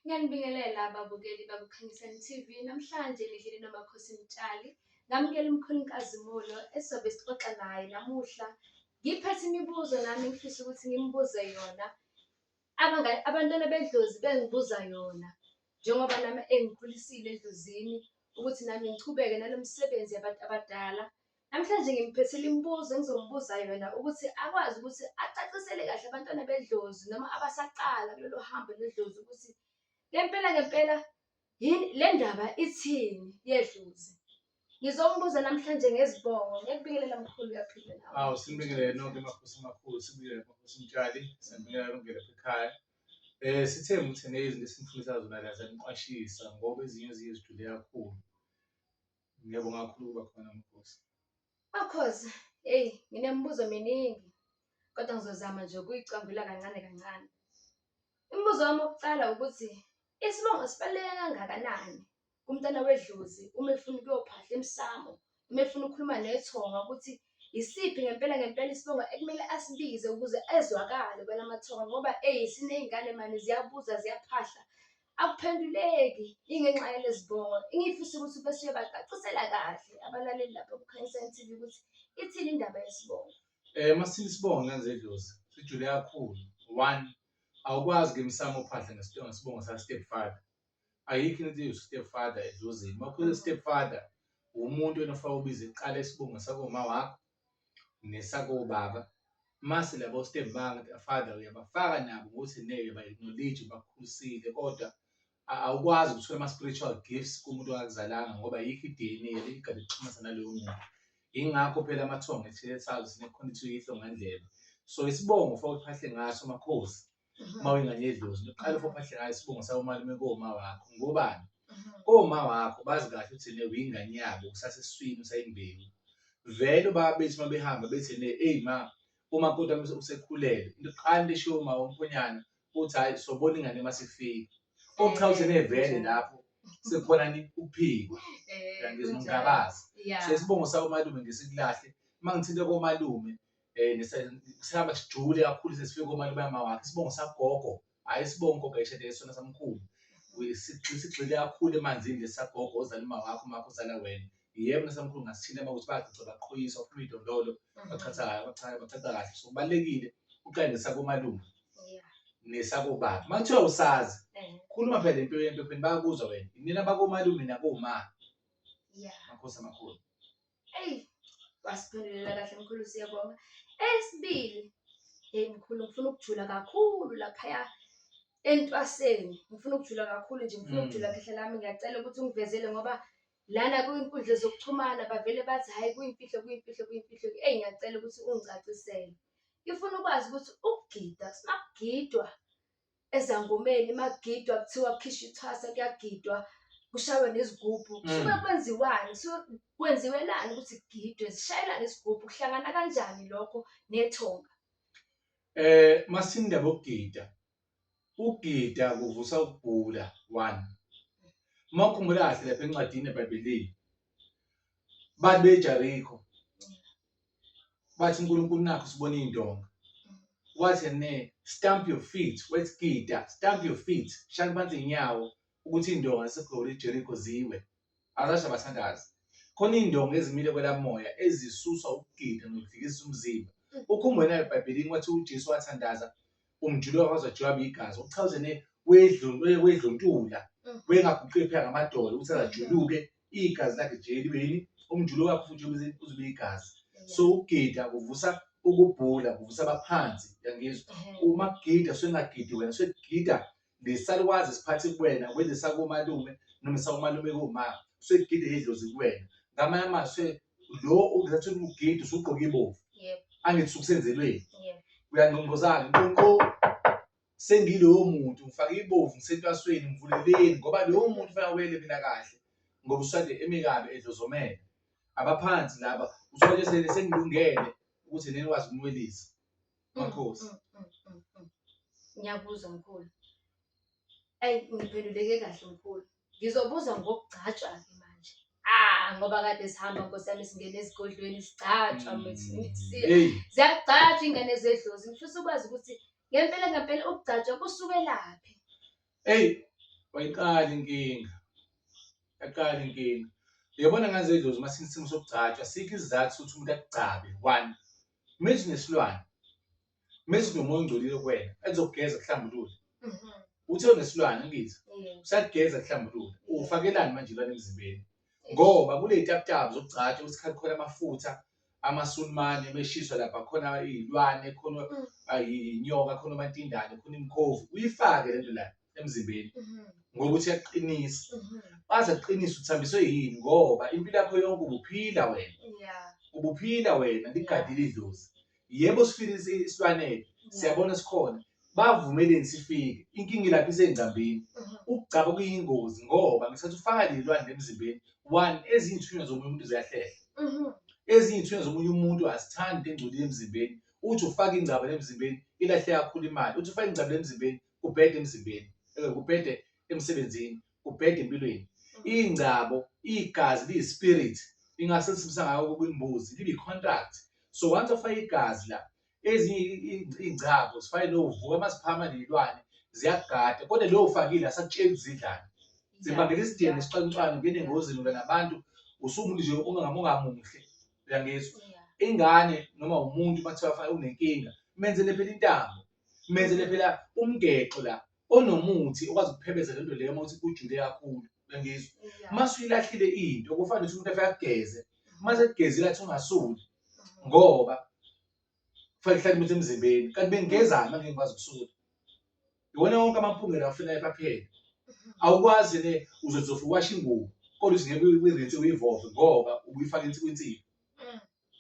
Ngiyanibingelela ababukeli bakuKhanyisani TV. Namhlanje ngihleli noMakhosi Mtshali. Ngamukela umkhulu inkazimulo esizobe sixoxa naye namuhla. Ngiphethe imibuzo nami ngifisa ukuthi ngimbuze yona. Abangani abantwana bedlozi bengibuza yona njengoba nami engikhulisile edlozini ukuthi nami ngichubeke nalo msebenzi yabantu abadala. Namhlanje ngimphethele imibuzo engizombuza yona ukuthi akwazi ukuthi acacisele kahle abantwana bedlozi noma abasaqala kulolu hambo lwedlozi ukuthi ngempela ngempela yini le ndaba ithini yedlozi. Ngizombuza namhlanje ngezibongo. Ngiyakubingelela mkhulu uyaphila nawe. Awu sibingelele nonke emakhosi amakhulu, sibingelele emakhosi umtshali, siyabingelela longele lapha ekhaya. Eh sithe muthene izinto esimfundisa zona la zaniqwashisa ngoba ezinye eziye zijule kakhulu. Ngiyabonga kakhulu ukuba khona Makhosi. Makhosi, hey, nginemibuzo miningi kodwa ngizozama nje ukuyicambula kancane kancane. Imibuzo wami wokuqala ukuthi isibongo sibaluleke kangakanani kumntana wedlozi uma efuna ukuyophahla emsamo, uma efuna ukukhuluma nethonga ukuthi yisiphi ngempela ngempela isibongo ekumele asibize ukuze ezwakale kwelamathonga ngoba eyi siney'ngane mani ziyabuza ziyaphahla akuphenduleki ingenxa yalezi bongo engifisa ukuthi bese uyobacacisela kahle abalaleli lapha kukhanyisani TV ukuthi ithini indaba yesibongo Eh masile isibongo ngenze idlozi sijule kakhulu one awukwazi ke msamo uphahla ngesibongo sibongo sa step father ayikho into ethi step father edlozini makhulu step father umuntu enofaka ubiza iqala isibongo sakomama wakho nesakobaba mase labo step father uyabafaka nabo ukuthi neke ba acknowledge bakhulisile kodwa awukwazi ukuthola ama spiritual gifts kumuntu ongakuzalanga ngoba yikho iDNA eligade kuxhumana nalowo muntu ingakho phela amathongo ethethayo sinekhona ithi uyihlo ngandlela so isibongo fawuphahle ngaso makhosi uma wengane yedlozi uqale for phahle ngayo isibongo sawo malume koma wakho ngobani koma wakho bazi kahle ukuthi ne uyingane yabo usaseswini usayimbewu vele ubaba bethi uma behamba bethi ne eyi ma uma kodwa usekhulele into qala lisho uma umphonyana uthi hayi sobona ingane uma sifika okuchawuthi nevele lapho sekukhona ni uphiko eh, ngizomgabaza so isibongo sawo malume ngesikulahle uma ngithinte komalume um sihamba sijule kakhulu sesifike komalume yama wakhe isibongo sagogo hhayi isibongo gogo ayishade isona samkhulu sigxile kakhulu emanzini lesagogo ozala uma wakho umakho uzala wena yebo nasamkhulu ngasithile uma ukuthi bagcotha baqhoyisa baphuma idondolo mm. bathatha bathatha kahle so kubalulekile uqale nesakomalume nesakobaba uma kuthiwa usazi eh. khuluma phela impilo yempepeni bayakuzwa wena inina bakomalume nakoma makhosi amakhulu Eyi wasiphendulela kahle mkhulu siyabonga. Esibili hey mkhulu ngifuna ukujula kakhulu laphaya entwaseni ngifuna ukujula kakhulu nje ngifuna Mm. ukujula khehla lami ngiyacela ukuthi ungivezele ngoba lana kwinkundla zokuxhumana bavele bathi hhayi kuyimfihlo kuyimfihlo kuyimfihlo eyi ngiyacela ukuthi ungicacisele ngifuna ukwazi ukuthi ukugida makugidwa ezangomeni magidwa kuthiwa kukhisha ithwasa kuyagidwa kushaywe nezigubhu Mm. suke kwenziwani suke kwenziwelani ukuthi kugidwe zishayelane izigubhu kuhlangana kanjani lokho nethonga Eh masinda bokugida. Ukugida kuvusa ukugula one. Makhumbula kahle lapha encwadini eBhayibhelini. Babe Jericho. bathi uNkulunkulu nakho sibona iy'ndonga wathi ne stamp your feet wethi gida stamp your feet shani phansi iy'nyawo ukuthi iy'ndonga zisegoli ijerikho ziwe azasho abathandazi khona iy'ndonga ezimile kwelamoya ezisuswa ukugida nokufikisa umzimba ukhumbule nayo ebhayibhelini wathi ujesu wathandaza umjulu wakwazi wajwaba igazi okuchawuze ne wedluntula wengaguqi phela ngamadolo ukuthi azajuluke igazi lakhe nje libe yini umjulu wakho futhi uzobe igazi so ukugida kuvusa ukubhula kuvusa abaphansi yangizwa uma kugida sengagidi wena segida lesalukwazi siphathe kuwena kwenze sakomalume noma sakomalume kuma segide idlozi kuwena ngamanye amazwi lo ungathi ukugida usugqoka ibovu angithi ukusenzelweni uyangqongqozana nqonqo sengilowo muntu ngifake ibovu ngisentwasweni ngivuleleni ngoba lowo muntu fanele wele mina kahle ngoba usade emikabi edlozomele abaphansi laba uthole sele sengilungele ukuthi nenikwazi ukunwelisa makhosi mm, mm, mm, mm, mm. ngiyabuza mkhulu ayi ngiphenduleke kahle mkhulu ngizobuza ngokugcatshwa-ke manje ah ngoba kade sihamba nkosi yami singena ezigodlweni sigcatshwa Mm. mfethu Hey. ziyagcatshwa ingane zedlozi ngifisa ukwazi ukuthi Ngempela ngempela ukugcatshwa kusukelaphi? Eyi, wayiqala inkinga. Yaqala inkinga. Uyabona ngane zedlozi uma sinesimo sokugcatshwa, sikho isizathu sokuthi umuntu akugcabe. One, methi nesilwane. Methi nomoya ongcolile kuwena, ezokugeza kuhlambulule. Mhm. Uthe unesilwane ngithi, Yeah. usakugeza kuhlambulule. Uwufakelani manje ilwane emzimbeni? Ngoba kuney'taputapu zokugcatshwa ukuthi khona amafutha, amasulumane meshiswa lapha khona iy'lwane khona Mm. ay- iy'nyoka khona omantindane khona imikhovu uyifake le nto la emzimbeni Mhm. ngokuthi yakuqinisa Mhm. baze kuqinisa uthambiswe yini ngoba impilo yakho yonke ubuphila wena Yeah. ubuphila wena ligadile idlozi yebo sifile isi- isilwanele Yeah. siyabona sikhona bavumeleni sifike inkinga ilapha isengcambini Mhm. ukugcaba kuyingozi ngoba ngesikhathi ufaka lelwane emzimbeni one ezinye ithunywa zomunye umuntu ziyahlehla Mhm. ezinye ithunywa zomunye umuntu azithandi into engcolile emzimbeni uthi ufaka ingcaba emzimbeni ilahle kakhulu imali uthi ufaka ingcaba emzimbeni kubhede emzimbeni eh, kubhede emsebenzini kubhede empilweni ingcabo igazi liyispirit ingase lisibisa ngayo kwimbuzi libe contract so once ufaka igazi la ezinye iy'ngcabo sifane novuka uma siphama ney'lwane ziyakugada kodwa leyo ufakile asakutsheli zidlani zibangela isidingo isixwancwane ungena engozini uba nabantu usumuntu nje ungamungamuhle uyangizwa ingane noma umuntu uma kuthiwa unenkinga menzele phela intambo menzele phela umgexo la onomuthi okwazi ukuphebeza lento leyo uma uthi ujule kakhulu ngizwe uma suyilahlile into kufana ukuthi umuntu afike ageze uma sekugezile athi ungasuli ngoba kufanele kuhlale imithi emzimbeni kanti bengigezani uma ngingikwazi ukusula iwona wonke amaphungela afuna ephapheni awukwazi ne uzozofa uwasha ingubo kodwa usingeke uyirinse uyivove ngoba ubuyifaka insikwinsibi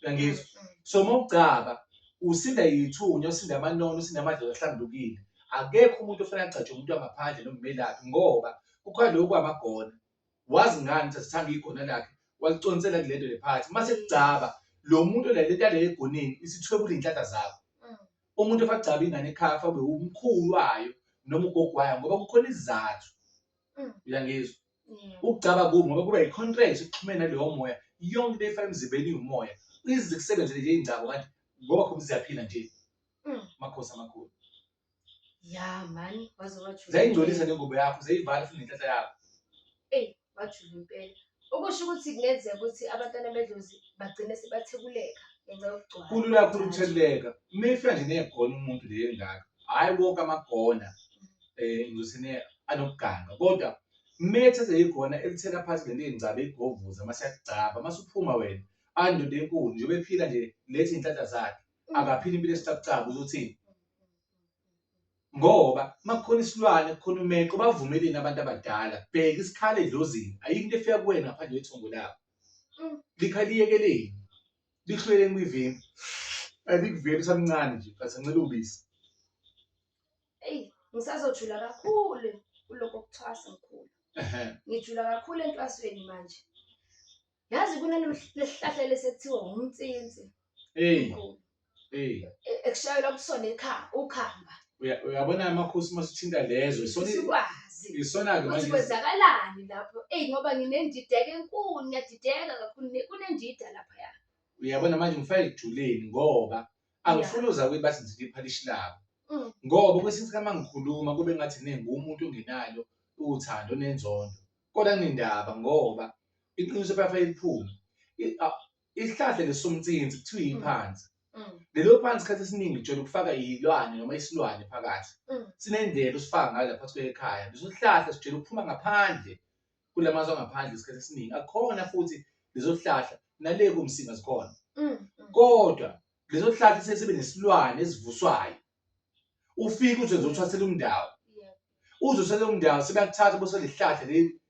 uyangizwa mm, mm. so uma ugcaba usinda yithunya usinda amanono usinda amadlozi ahlambulukile akekho umuntu ofanele agcatshwe umuntu wangaphandle nokumelaphi ngoba kukhona lokhu kwamagona wazi ngani ukuthi asithanda igona lakhe waliconsela kule nto lephakathi uma sekugcaba lo muntu lalento yale egoneni isithwebula iy'nhlahla zakho mm. umuntu efagcaba ingane ekhaya fabe umkhulu wayo noma ugogo wayo ngoba kukhona izizathu uyangizwa ukugcaba kubi ngoba kuba i-contract uxhumene nalowo moya yonke into efana emzimbeni iwumoya ize kusebenzele nje ingcabo kanti ngoba khona siyaphila nje Mm. makhosi amakhulu ya mani waze wajula zayingcolisa impela. nengubo yakho zayivala futhi nenhlahla yakho eyi wajula impela okusho ukuthi kungenzeka ukuthi abantwana bedlozi bagcine sebathekuleka ngenxa yokugcwala kulula kakhulu ukutheleleka uma ifika nje negona umuntu leyo engaka hhayi wonke amagona eh ngizosine anokuganga kodwa methe seyikhona elithela phansi ngento eyingcaba egovuza mase yakugcaba mase uphuma wena andoda enkulu nje bephila nje lethi inhlanhla zakhe akaphila impilo esicabucaba uzothini ngoba makukhona isilwane kukhona umeqo bavumeleni abantu abadala bheka isikhala edlozini ayikho into efika kuwena ngaphandle kwethongo labo likhaliyekeleni lihlweleni kwivimbi alikuveli usamncane nje but ancela ubisi eyi ngisazojula kakhulu kuloko kuthwasa ngikhulu Ehhe. ngijula kakhulu entwasweni manje yazi kunalesihlahla lesekuthiwa umtsinsi Eyi, mkhulu eyi. e- ekushayelwa kusona ikha- ukhamba Uya- Uyabona amakhosi uma sithinta lezo isona sikwazi isona-ke ukuthi manje kwenzakalani lapho eyi ngoba nginendideka enkulu ngiyadideka kakhulu ne- kunendida laphaya uyabona manje ngifake ekujuleni ngoba angifuni uza kuyibathi ngiziphi iphalishi labo mm. ngoba kwesinye isikhathi mangikhuluma kube ngathi nengumuntu ongenalo uthando nenzondo kodwa nindaba ngoba iqiniso phela eliphuma isihlahla lesomtsinzi kuthiwa mm. iphansi mm. lelo phansi isikhathi esiningi jona ukufaka iyilwane noma isilwane phakathi sinendlela usifaka ngayo lapha kwekhaya leso sihlahla sijela ukuphuma ngaphandle kula mazwe angaphandle isikhathi esiningi akukhona futhi lezo hlahla nale kumsinga zikhona Mm, mm. kodwa lezo hlahla sesibe nesilwane esivuswayo ufike uthi uzothwasela umndawo Yeah. uzosele umndawo sebakuthatha bose lihlahla leli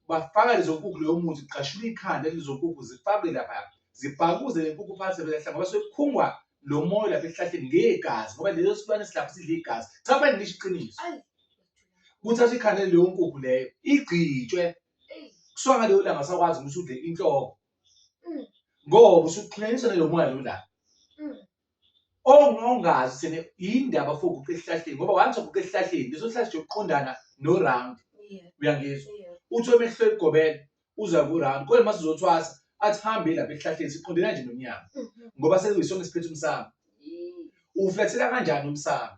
bafaka lezo nkukhu leyo muthi kuqashula ikhanda lezo nkukhu zifakwe lapha zibhakuze le nkukhu phansi belahla ngoba sekukhungwa lo moya lapha ehlahleni ngegazi ngoba lezo silwane silapha sidla igazi cha manje ngisho iqiniso Ayi. kuthatha ikhanda leyo nkukhu leyo igcitshwe kuswa ngaleyo langa sakwazi ukuthi udle inhloko mm. ngoba usuxhunyanyiswa nalo moya lo langa mm. ongazi sene indaba for uguqe esihlahleni ngoba wanthi uguqe esihlahleni leso sihlahla nje uqondana no round uyangizwa uthi omehlo egobela uza ku round kodwa mase uzothwasa athi hambe lapha esihlahleni siqondena nje nomnyama mm-hmm. ngoba sekuyisona isiphethe umsamo uflethela kanjani umsamo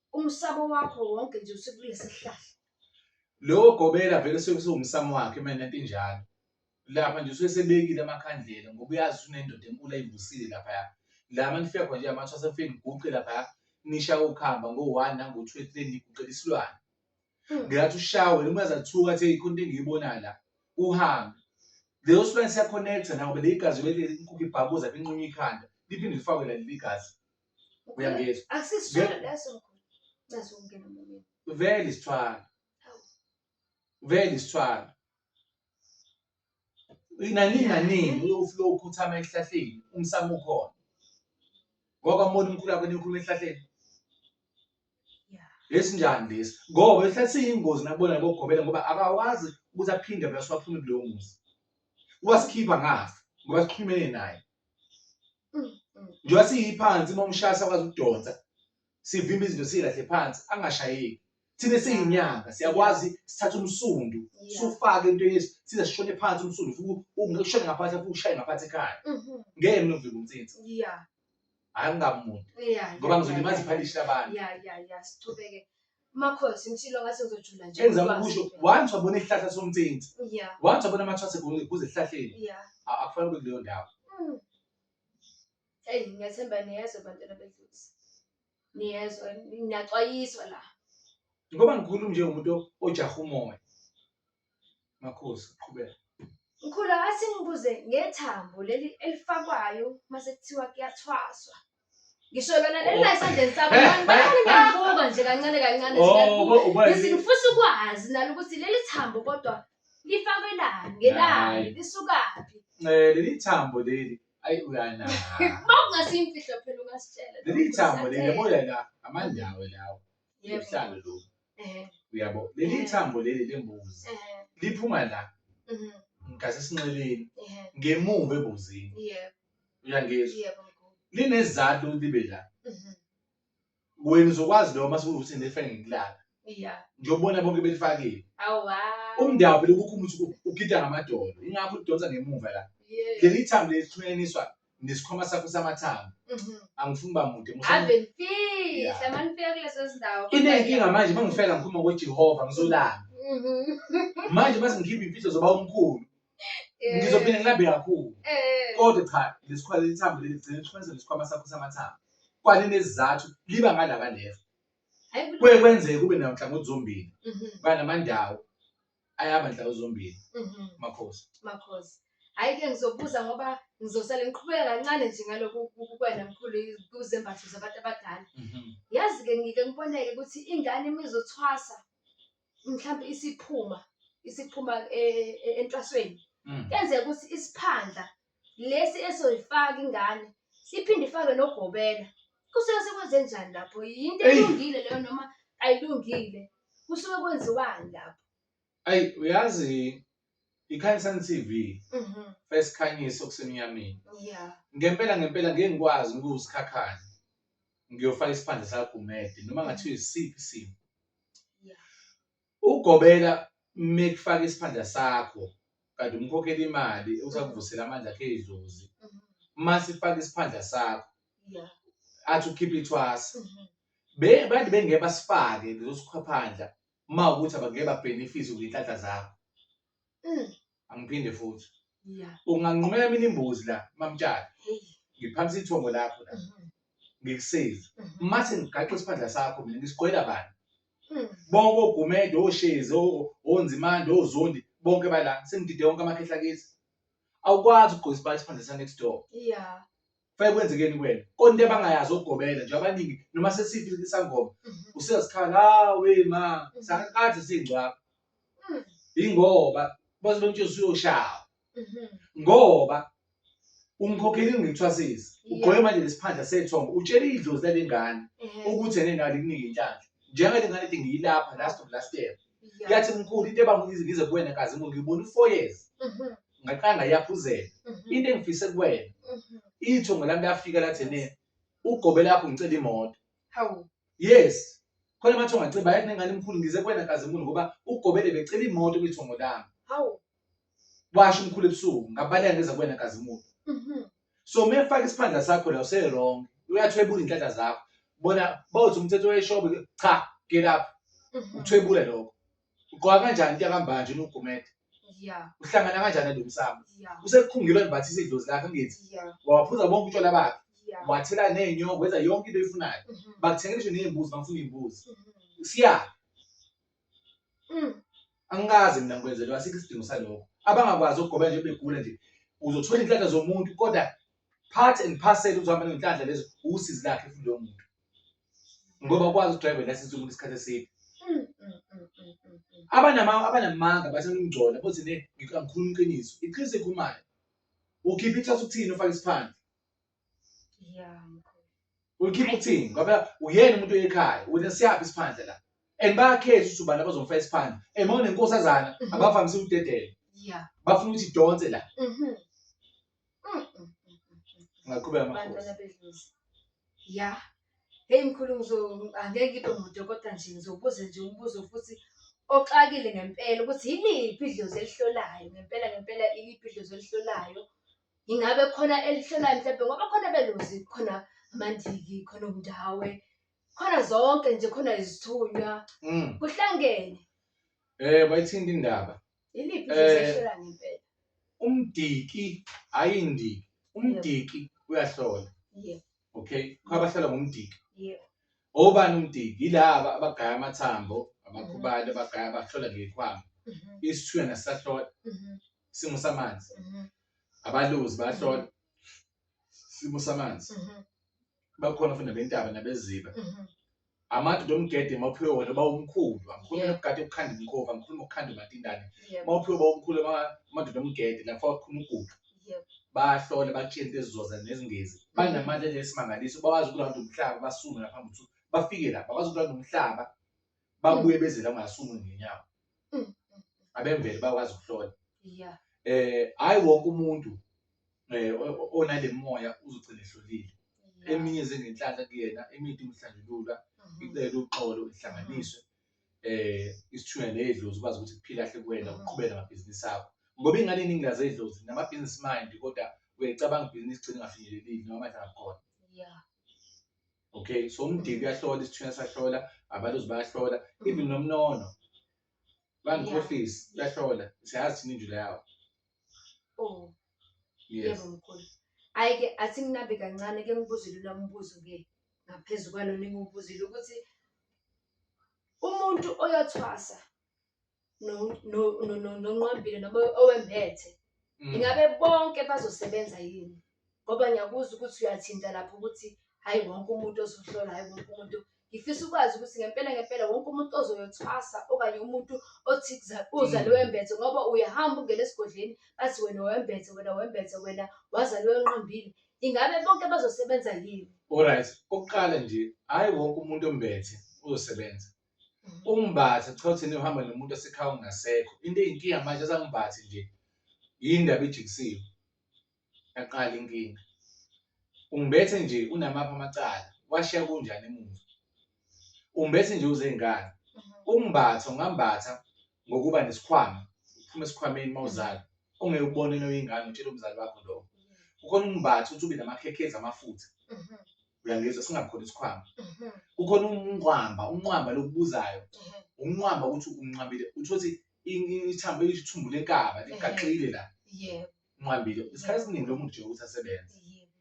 Umsamo wakho wonke nje usekulesi sihlahla. Lowo gobela vele suke siwumsamo wakhe mina into injalo. Lapha nje usuke sebekile amakhandlela ngoba uyazi unendoda enkulu ayivusile lapha ya. La manifika khona nje amathwa sefini guqe lapha ya. Nisha ukuhamba ngo-1 nango-2 3 niguqela isilwane. Hmm. Ngiyathi ushawe noma zathuka athi ikhona into engiyibonayo la. Uhambe. Leyo silwane siya connect nawo bele igazi bele inkukhu ibhabuza inqunywa ikhanda. Liphinde lifakwe la leli gazi. Uyangizwa? Akusisithwalo Nge- leso mkhulu. Ncazi ukungena emlomeni. vele isithwalo vele isithwalo inani naningi uflo ukhuthama esihlahleni umsamo ukhona ngoba mbona umkhulu akho nikhuluma esihlahleni Yeah. lesinjani lesi ngoba esihlathi siyingozi nakubona ngokugobela ngoba akawazi ukuthi aphinde vele siwaphume kuleyo muzi wasikhipha ngafa ngoba sikhulumene naye njengoba siyiphansi uma umshaya sakwazi ukudonsa sivimba izinto siyilahle phansi angashayeki thina siyinyanga siyakwazi sithatha umsundu sufake into yesu size sishone phansi umsundu futhi ungekushone ngaphansi futhi ushaye ngaphansi ekhaya mhm. ngeke mina uvimba umtsinsi hayi ngingamuntu ngoba ngizolimaza iphalishi labantu Makhosi ngishilo ngathi ngizojula nje. Engizama ngikwazi ukusho impela. once wabona isihlahla somthinti Yeah. once wabona amathwase kuze esihlahleni Yeah. a- akufanele ube kuleyo ndawo Mm. Hey, ngiyathemba niyezwa bantwana bedlozi. Niyezwa, niyaxwayiswa la. ngoba ngikhuluma njengomuntu ojaha umoya Makhosi qhubeka. Mkhulu akathi ngibuze ngethambo leli elifakwayo mase kuthiwa kuyathwaswa. Ngisho lona leli la esandleni sakho Eh, abantu bayale eh, ngiyabuka nje kancane kancane Oh, ngiyabuka. uba- uba- Ngithi ngifisa ukwazi nalo ukuthi leli thambo kodwa lifakwelani ngelani Hayi. lisukaphi. Eh, leli thambo leli ayi uyana Uma kungasiyimfihlo phela ungasitshela. leli thambo leli yabo la amandawo lawo Yebo. ubuhlalo lobu Ehhe, uyabo leli Mhm. thambo leli lembuzi ehhe, liphuma la mhm, ngasesinxeleni ehhe. ngemuva ebuzini Yebo, uyangizwa yebo mkhulu. linezathu ukuthi libe la Mhm, wena uzokwazi lokho mase ukuthi nifake ngikulala iya. ngiyobona bonke belifakile Awa. umndawo phela ukukhumbula ukuthi ugida ngamadolo ingakho udonsa ngemuva la Yes. leli thambo leli lihlukaniswa nesikhwama sakho samathanga Mhm. angifuni uba mude musa- ave nifihla Yeah. uma nifika kulezo zindawo inenkinga manje uma ngifika ngikhuluma ngojehova ngizolamba Mhm. manje uma sengikhipha imfihlo zoba omkhulu Eh, ngizophinde ngilambe kakhulu eh, kodwa cha lesikhwama lithambo leli gcina likhonza lesikhwama sakho samathanga kwalinezizathu liba ngalaba left hayi kulo- kuye kwenzeke kube nanhlangothi zombili Mhm. banamandawo ayaba nhlawu zombili Mhm. makhosi Makhosi. Hayi ke ngizobuza ngoba ngizosale ngiqhubeka kancane nje ngalokhu ku- ku- kwena mkhulu i- kuzembatho zabantu abadala. Mhm. Yazi ke ngike ngiboneke ukuthi ingane uma izothwasa mhlawumbe isiphuma isiphuma eh, eh, entwasweni. Mm. Kenzeka ukuthi isiphandla lesi esoyifaka ingane siphinde ifake nogobela kusuke sekwenze njani lapho yinto Eyi. elungile leyo noma ayilungile kusuke kwenziwani lapho ayi uyazi ikhanisani tv Mhm. first khanyiso kusemnyameni ya ngempela ngempela ngeke ngikwazi ukuwusikhakhane ngiyofaka isiphandla sakagumede noma ngathiwa isiphi isimo Yeah. Ugobela mekufaka isiphandla sakho kanti umkhokhela imali usakuvusela amandla akhe edlozi. Mhm. Uma sifaka isiphandla sakho Yeah. athi ukhipha ithwasa. Mhm. Be bantu bengeke basifake lezosikhwaphandla uma ukuthi abangeke babenefise ngenhlanhla zakho. Mm. angiphinde futhi ya unganqumela mina imbuzi la mamtshali Hey. ngiphakamisa ithongo lakho la Mhm. ngikusize Mhm. mase ngigaxe isiphandla sakho mina ngisigqwela bani Mm. bonke ogumede oshezi o- onzimande ozondi bonke bala sengidide wonke amakhehla kithi awukwazi ukugqoka isiphandla sa next door ya Kufanele kwenzekeni kuwena? Konke abangayazi ogobela nje abaningi noma sesithi isangoma Mhm. usezikhala hawe ma Mhm. sakade singcwaba. Mm. Ingoba baze bemtshela usuyoshawa. Mhm. ngoba umkhokheli ngithwasisa Yeah. ugqoke manje lesiphandla sethongo utshela idlozi lalengane Ehhe. ukuthi ene nalo ikunika inhlanhla njengathi ngane ethi ngiyilapha last of last year yathi mkhulu into ebangize ngize kuwena kazi ngo ngibona u-four years mhm. ngaqala ngayaphuzela mhm. into engifise kuwena mhm. ithongo lami lafika lathi ne ugobe lakho ngicela imoto hawu yes khona mathi ungaciba yathi nengane mkhulu ngize kuwena kazi mkhulu ngoba ugobele becela imoto kwithongo lami hawu washo umkhulu ebusuku ngabaleka ngeza kuwena kazimulo Mhm. so uma efaka isiphandla sakho la usewrong uyathwebula inhlahla zakho bona bawuthi umthetho weshobe cha get up Mhm. uthwebule lokho ugqoka kanjani into yakambanje unogumede Yeah. uhlangana kanjani nalo msamo Yeah. usekukhungilwe ngibathi isidlozi lakho ngithi Yeah. wawaphuza bonke utshwala bakhe Yeah. wathela ney'nyoko wenza yonke into oyifunayo Mhm. bakuthengela isho ney'mbuzi bangifuna iy'mbuzi Mhm. siya angikaze mina ngikwenzelwa asikho isidingo salokho abangakwazi ukugoba nje begula nje uzothola inhlanhla zomuntu kodwa part and parcel uzohamba nenhlanhla lezo usizi lakhe futhi lowo muntu ngoba ukwazi udriver license umuntu isikhathi eside abanama abanamanga basenimgcola bothi ne ngikhuluma iqiniso iqiniso ekhumayo ukhipha ithatha ukuthini ufake isiphandle ulikhipha ukuthini ngoba uyena umuntu oyekhaya wena siyaphi isiphandla la and bayakhetha ukuthi ubani abazomfa isiphandla and uma unenkosazana Mhm. abavamise ukudedela ya bafuna ukuthi idonse la Mhm. Mm, mm, mm, mm. ngaqhubeka amakhosi bantwana bedlozi ya heyi mkhulu ngizo- angeke ngibe mude kodwa nje ngizobuza nje umbuzo futhi oxakile ngempela ukuthi yiliphi idlozi elihlolayo ngempela ngempela iliphi idlozi elihlolayo Ingabe khona elihlolayo mhlawumbe ngoba khona belozi khona amandiki khona umndawe khona zonke nje khona izithunywa Mm. kuhlangene Eh bayithinta indaba. iliphi Eh. izehlela ngempela Umdiki hayi indiki. Umdiki uyahlola. Yebo. Okay. Kwabahlola ngomdiki. yebo Obani umdiki? Yilaba abagaya amathambo, abakhubali abagaya abahlola ngekhwama. Mhm, Isithunywa nasahlola. mhm. isimo samanzi Mhm. abaluzi bayahlola isimo samanzi Mhm. bakhona futhi nabentaba nabeziba Mhm. amadoda omgede mawuphiwe wona uba umkhulu angikhulumi Yeah. nokugade ukukhanda imkhovu angikhulumi ngokukhanda umatindane Yebo. mawuphiwe uba umkhulu ama- amadoda omgede lapho akhuluma ugudu Yebo. bahlole bakutshele into ezizoza nezingezi banamandla esimangaliso bawazi ukulanda umhlaba basume ngaphambi ukuthi bafike lapha bawazi ukulanda umhlaba babuye beze la ngasunguli ngenyawo Mm, mm, mm. abemvelo bakwazi ukuhlola Yeah. eh hayi wonke umuntu eh o- o- onale moya uzogcina ehlolile Yeah. eminye zengenhlanhla kuyena eminye imhlanjulula Mhm. icela uxolo ihlanganiswe eh isithunywa nedlozi ukwazi ukuthi kuphila kahle kuwena Mhm. uqhubeka ngamabhizinisi akho ngoba ingane eningi lazedlozi namabhizinisi mind kodwa uyacabanga ibhizinisi gcina ingafinyelelile noma manje akakhona Yeah. okay so umdiki uyahlola isithunywa sahlola abaluzi bayahlola even nomnono bangikhohlisi uyahlola siyazi thina injula yawo oh yes yebo mkhulu hayi ke athi nginabe kancane ke ngibuzile lo mbuzo ke ngaphezu kwalo ningiwubuzile ukuthi umuntu oyothwasa no- no- no- no- nonqwambile noma owembethe Mm. ingabe bonke bazosebenza yini ngoba ngiyakuzwa ukuthi uyathinta lapho ukuthi hhayi wonke umuntu ozohlola hhayi wonke umuntu ngifisa ukwazi ukuthi ngempela ngempela wonke umuntu ozoyothwasa okanye umuntu othi kuza- uzale Mm. wembethe ngoba uyahamba ungena esigodleni bathi wena wembethe wena wembethe wena wazale wenqambile ingabe bonke bazosebenza yini Alright, okokuqala nje, hayi wonke umuntu ombethe uzosebenza. umbatha kuthiwa thina uhamba nomuntu osekhaya ongasekho into eyinkinga manje azangibathi nje yini ndaba ijikisiwe yaqala inkinga ungibethe nje unamaphi amacala washiya kunjani emuva ungibethe nje uzengane umbatha ungambatha ngokuba nesikhwama uphuma esikhwameni uma uzala ungeke ubone noyingane utshela umzali wakho lokho kukhona umbatha uthi ube namakhekhezi amafutha uyangizwa singakhona isikhwama Mhm. kukhona umnqwamba umnqwamba lokubuzayo Mhm. umnqwamba ukuthi unqwambile uthole ukuthi ithambo ithumbu lenkaba ligaxile la Yebo. unqwambile isikhathi esiningi lo muntu nje ukuthi asebenze Yebo.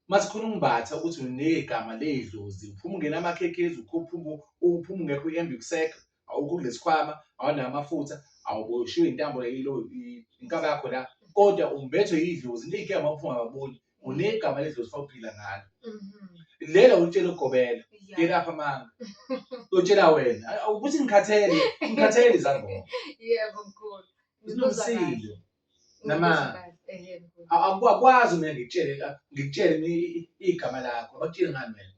uma sikhona umbatha ukuthi unegama ley'dlozi uphuma ungena amakhekhezi uphuma ungekho i-ambuksec awukho kulesikhwama awanawo amafutha awuboshiwe intambo yilo inkaba yakho la kodwa umbethwe yidlozi leyigama uphuma baboni unegama ledlozi fawuphila ngalo mhm. lelo ulitshela ugobela ngelapha amanga utshela wena ukuthi ngikhathele ngikhathele izangoma yebo mkhulu sinomsindo nama akwazi mina ngitshele ngitshele igama lakho abakutshele ngani wena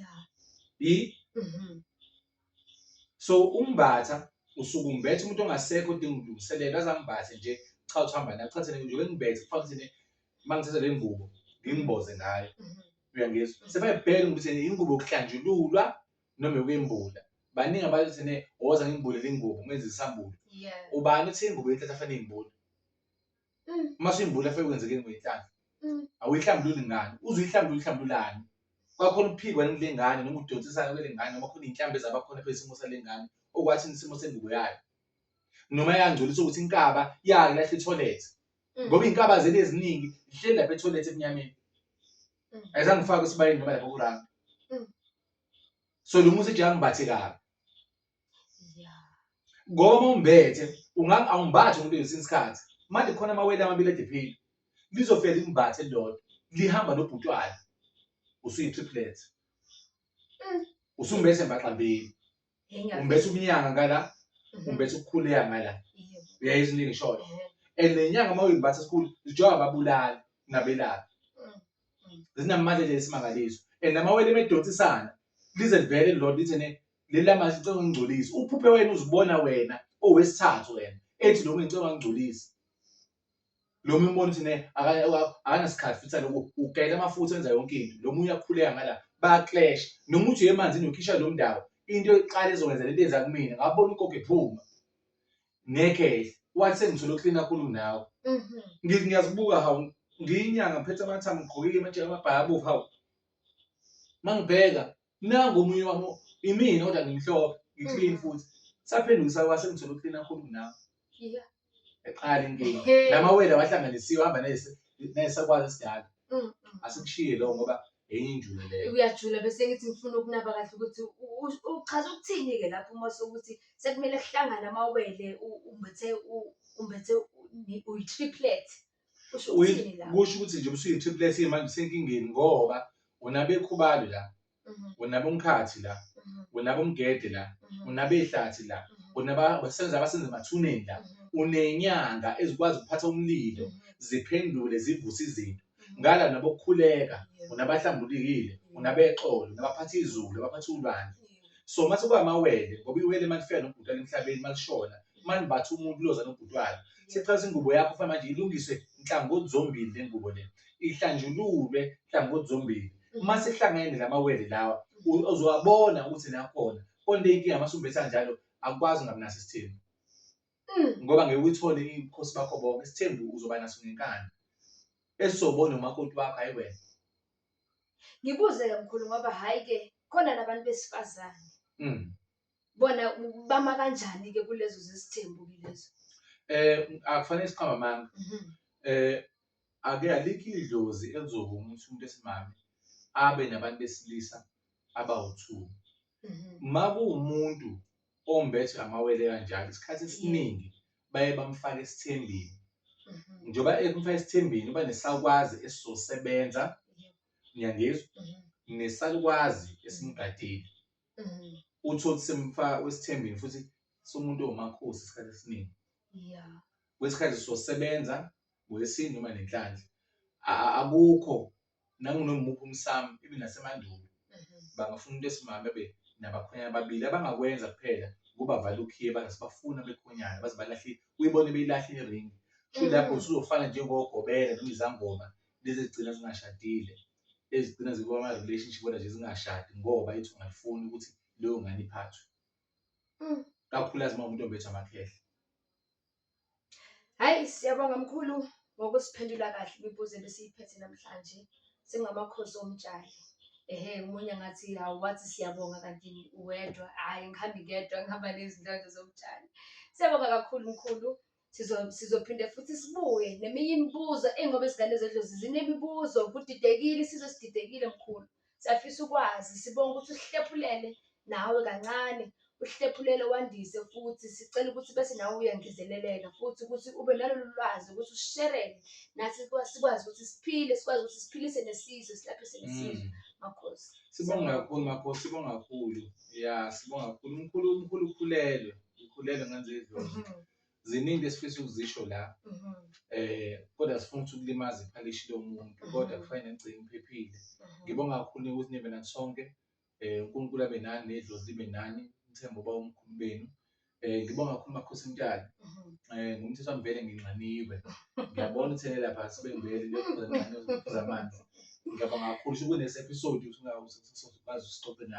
ya yi mhm. so umbatha usuke umbethe umuntu ongasekho udinga ukulungiselela azangibathe nje cha uthi hamba naye uthathe nje ngibethe kufaka ukuthi uma ngithatha le ngubo ngimboze ngayo mhm. uyangizwa mhm. sebayibheka ukuthi ingubo yokuhlanjululwa noma yokwembula baningi abantu thene woza ngimbulele ingubo ngenze isambulo ubani uthi ingubo yethatha fanele imbule Mm. uma simbula fe kwenzekeni ngoyinhlanhla Mm. awuyihlambululi ngani uze uyihlambulule uyihlambululani kwakhona uphikwa yini kule ngane noma udonsisana kwele ngane noma khona iy'nhlambi ezabakhona phezu isimo sale ngane okwathi isimo sengubo yayo noma yangcolisa ukuthi inkaba yayo lahle itholethe Mm. ngoba iy'nkaba zeli eziningi zihleli lapha etholethe emnyameni Mm. ayizangifake esibayeni noma lapha kuranga Mm. so lo muzi eje angimbathe kabi ngoba uma umbethe awumbathi umuntu ngesinye isikhathi manje khona amawele amabili edephile lizofika limbathe lodwa lihamba nobhutwana usuyi-triplet mm. usumbethe mbaxambili umbethe ubunyanga ngala mhm. umbethe ukukhuleka ngala uyayizwa into engishoyo and nenyanga uma uyimbatha esikhulu zijoba ababulali nabelaphi mm, mm. zinamandla nje esimangaliso and amawele emedonsisana lize livele lodwa lithi ne Lela manje icela ungingcolisa. Uphuphe wena uzibona wena owesithathu wena ethi lo ngicela ungingcolisa. Lo munye umbona ukuthi ne akanasikhathi futhi lokhu ugayela amafutha enza yonke into. Lo munye uyakhuleka ngala baclash. Noma uthi emanzini ukhisha lo mndawo into eqala ezokwenza lento yenza kumina ngabona ugogo ephuma. Ngeke wathi sengithole uklina khulu nawe. Mhm. Ngithi ngiyazibuka hawu ngiyinyanga ngiphethe amathambo ngigqokile amajeke amabhayi abovu hawu. Mangibheka Nangu omunye wami imina kodwa ngimhlophe ngiclean futhi saphendukisa kwase ngithola uclean kakhulu kunawe Yeah. eqala inkinga Ehe. la mawele awahlanganisiwe hamba nese- nesakwazi esidala Mm, mm. asikushiye lowo ngoba enye injule leyo uyajula bese ngithi ngifuna ukunaba kahle ukuthi u- u- uchaza ukuthini-ke lapho uma sokuthi sekumele kuhlangane amawele u- umbethe u- umbethe u- ni- uyi-triplet Kusho Uyi- ukuthini la? kusho ukuthi nje usuyi-triplet manje usenkingeni ngoba unabekhubalo la Mhm, unabomkhathi la mhm, unabomgede la mhm, unabehlathi la mhm, unabasebenza abasenza emathuneni la mhm, unenyanga ezikwazi ukuphatha umlilo mhm, ziphendule zivuse izinto mhm. ngala nabokukhuleka Yeah, unabahlambulukile unabexolo unabaphatha izulu abaphatha ulwandle yeah. so mase kwamawele ngoba iwele malifika nokubhutala emhlabeni malishona manje bathi umuntu uyoza nobhuti wayo sexhasa ingubo yakho fanele manje ilungiswe nhlangothi zombili le ngubo le ihlanjululwe nhlangothi zombili uma sihlangene la mawele lawa u- uzowabona ukuthi nakhona konke inkinga uma sumbetha njalo akukwazi ungabunaso isithembu Mm. ngoba ngeke uyithole ibukhosi bakho bonke isithembu uzoba naso ngenkani esizobona umakoti wakho hayi wena Ngibuze ke mkhulu ngoba hayi ke khona nabantu besifazane Mm. bona bama kanjani-ke kulezo zesithembu ke lezo um akufanele siqamba amanga um ake alikho idlozi elizovuma ukuthi umuntu esimame abe nabantu besilisa abawu-two uma mhm. kuwumuntu ombethwe amawele kanjalo isikhathi esiningi baye bamfake esithembini mhm. njengoba ekumfaka esithembini uba nesakwazi esizosebenza niyangizwa mhm. nesakwazi esimgadile Mhm. uthole ukuthi semfaka kwesithembeni futhi somuntu omakhosi isikhathi esiningi Yeah. kwesikhathi sosebenza ngolesini noma nenhlanhla A- a- akukho nangunomuphi umsamo ibe nasemandulo Mhm. bangafuna umuntu esimame bebe nabakhwenyana ababili abangakwenza kuphela kubavala ukhiye bangasibafuna bekhonyana baze balahle uyibone beyilahle iringi futhi lapho Mhm. usuzofana njengogobela noma izangoma lezi ezigcina zingashadile ezigcina zikuba ama relationship kodwa nje zingashadi ngoba ithi ungalifuni ukuthi leyo ngane iphathwe mm. kakhulukazi uma umuntu ombethwa amakhehle hayi siyabonga mkhulu ngokusiphendula kahle imibuzo ebesiyiphethe namhlanje singamakhosi omtshali ehe umunye ngathi hawu wathi siyabonga kanti uwedwa hhayi ngihambi ngedwa ngihamba nezinhlonto zomtshali siyabonga kakhulu mkhulu Sizo- sizophinde futhi sibuye neminye imibuzo engoba izingane zedlozi zinemibuzo kudidekile isizwe sididekile mkhulu siyafisa ukwazi sibonga ukuthi usihlephulele nawe kancane uhlephulele wandise futhi sicela ukuthi bese nawe uyangezeleleka futhi ukuthi ube nalolu lwazi ukuthi usherele nathi sikwa- sikwazi ukuthi siphile sikwazi ukuthi siphilise nesizwe silaphise nesizwe Mm. makhosi Sibonga kakhulu makhosi, sibonga kakhulu. Ya, sibonga kakhulu. Umkhulu umkhulu ukhulelwe. ngikhulele ngenze idlozi Mhm, ziningi into esifisa ukuzisho la mhm, eh kodwa sifuna ukuthi ukulimaza iphalishi lomuntu kodwa kufanele ngigcine ngiphephile mhm. ngibonga kakhulu ukuthi nibe nathi sonke eh uNkulunkulu abe nani nedlozi libe nani ngithemba uba umkhulu benu eh ngibonga kakhulu makhosi mtali Mhm. eh ngumthetho wami vele nginxaniwe ngiyabona uthele lapha sibengivele ngiyophuza nxaniwe ngiphuza amanzi ngiyabonga kakhulu ukuthi kunex episode usingakwazi usixoxe nawe